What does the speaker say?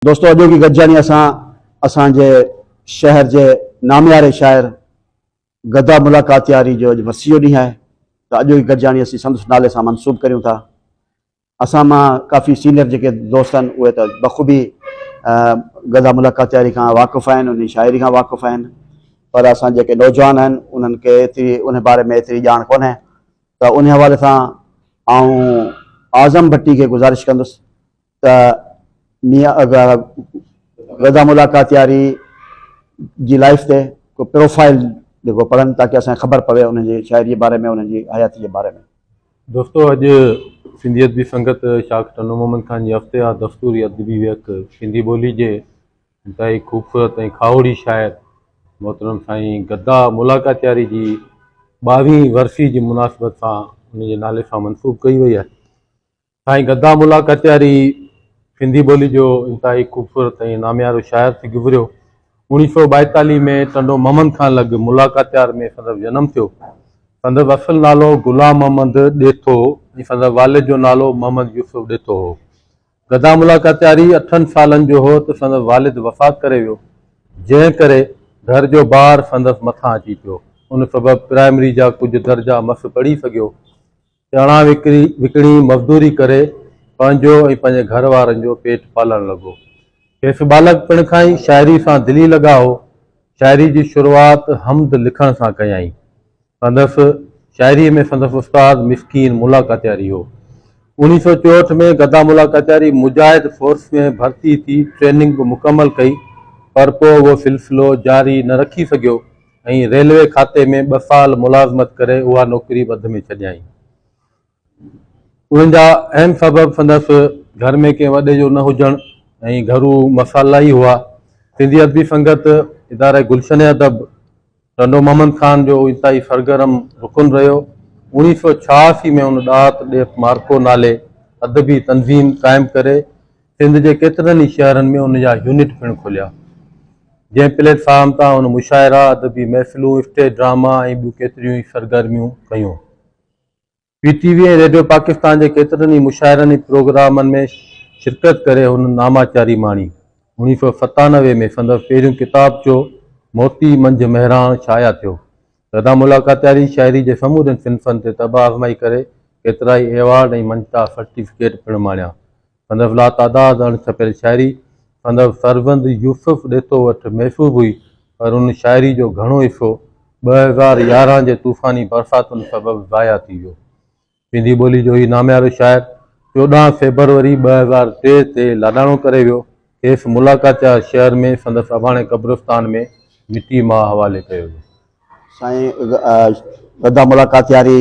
دوستو اڄوڪي گڏجاڻي اسان اسان جي شهر جي نامياري شاعر گدا ملاڪاتياري جو اڄ ورسي جو ڏينهن آهي ته اڄوڪي گڏجاڻي اسين سندس نالي سان منسوب ڪريون ٿا اسان مان ڪافي سينئر جيڪي دوست آهن اهي ته بخوبي گدا ملاڪاتياري کان واقف آهن ان جي شاعري کان واقف آهن پر اسان جيڪي نوجوان آهن انهن کي ايتري ان باري ۾ ايتري ڄاڻ ڪونهي ته ان حوالي سان آئون اعظم ڀٽي کي گذارش ڪندس ته ميان اگا غدا ملاقاتياري جي لائف تي ڪو پروفائل جيڪو پڙهن تاڪه اسان کي خبر پوي انهن جي شاعري جي باري ۾ انهن جي حياتي جي باري ۾. دوستو اڄ سنڌي ادبي سنگت شاخ ٽنڊو محمد خان جي هفتيوار دستوري ادبي ويهڪ سنڌي ٻولي جي انتهائي خوبصورت ۽ کاهوڙي شاعر محترم سائين گدا ملاقاتياري جي ٻاوهين ورسي جي مناسبت سان ان جي نالي سان منسوب ڪئي وئي آهي سائين گدا ملا ڪچهري سنڌي ٻولي جو انتهائي خوبصورت ۽ ناميارو شاعر ٿي گذريو. اوڻيھ سؤ ٻائيتاليھ ۾ ٽنڊو محمد خان لڳ ملا ڪاچهار ۾ سندس جنم ٿيو. سندس اصل نالو غلام محمد ڏيٿو ۽ سندس والد جو نالو محمد يوسف ڏيٿو هو. گدا ملا ڪچهري اٺن سالن جو هو ته سندس والد وفات ڪري ويو، جنهن ڪري گهر جو بار سندس مٿان اچي پيو. ان سبب پرائمري جا ڪجهه درجا مس پڙهي سگهيو. چڻا وڪڻي وڪڻي مزدوري ڪري پنهنجو ۽ پنهنجي گهر وارن جو پيٽ پالڻ لڳو. کيس ٻالڪ پڻ کان ئي شاعري سان دلي لڳاء هو. شاعري جي شروعات حمد لکڻ سان ڪيائين. سندس شاعري ۾ سندس استاد مسڪين ملا ڪاتياري هو. اوڻيهه سؤ چوهٺ ۾ گدا ملا ڪاتياري مجاهد فورس ۾ ڀرتي ٿي ٽريننگ به مڪمل ڪئي پر پوء اهو سلسلو جاري نه رکي سگهيو. ۽ ريلوي کاتي ۾ ٻه سال ملازمت ڪري اها نوڪري وڌ ۾ ڇڏيائين. انهن جا اهم سبب سندس گهر ۾ ڪنهن وڏي جو نه هجڻ ۽ گهرو مسئلا ئي هئا. سنڌي ادبي سنگت اداري گلشن ادب ٽنڊو محمد خان جو انتهائي سرگرم رڪن رهيو. اوڻيهه سؤ ڇهاسي ۾ هن ڏات ڏيپ مارڪو نالي ادبي تنظيم قائم ڪري، سنڌ جي ڪيترن ئي شهرن ۾ ان جا يونٽ پڻ کوليا، جنهن پليٽ فارم تان هن مشاعرا، ادبي محفلون، اسٽيج ڊراما ۽ ٻيون ڪيتريون ئي سرگرميون ڪيون. P T V ۽ radio Pakistan جي ڪيترن ئي مشاعرن ۽ پروگرامن ۾ شرڪت ڪري هن ناماچاري ماڻي. اوڻيهه سؤ ستانوي ۾ سندس پهريون ڪتابچو موتي منجهه مهراڻ شايع ٿيو، سدا ملاڪاتياري شاعري جي سمورين صنفن تي طبع آزمائي ڪري ڪيترائي ايوارڊ ۽ مڃتا سرٽيفڪيٽ پڻ ماڻيا، سندس لاتعداد اڻ ڇپيل شاعري سندس فرزند يوسف ڏيتو وٽ محسوب هئي، پر ان شاعري جو گهڻو حصو ٻه هزار يارهن جي طوفاني برساتن سبب ضايع ٿي ويو. سنڌي ٻولي جو هي ناميارو شاعر چوڏهن فيبروري ٻه هزار ٽي تي لاڏاڻو ڪري ويو. کيس ملاڪاچا شهر ۾ سندس اباڻي قبرستان ۾ مٽي ماء حوالي ڪيو ويو. سائين ادا ملاڪاتياري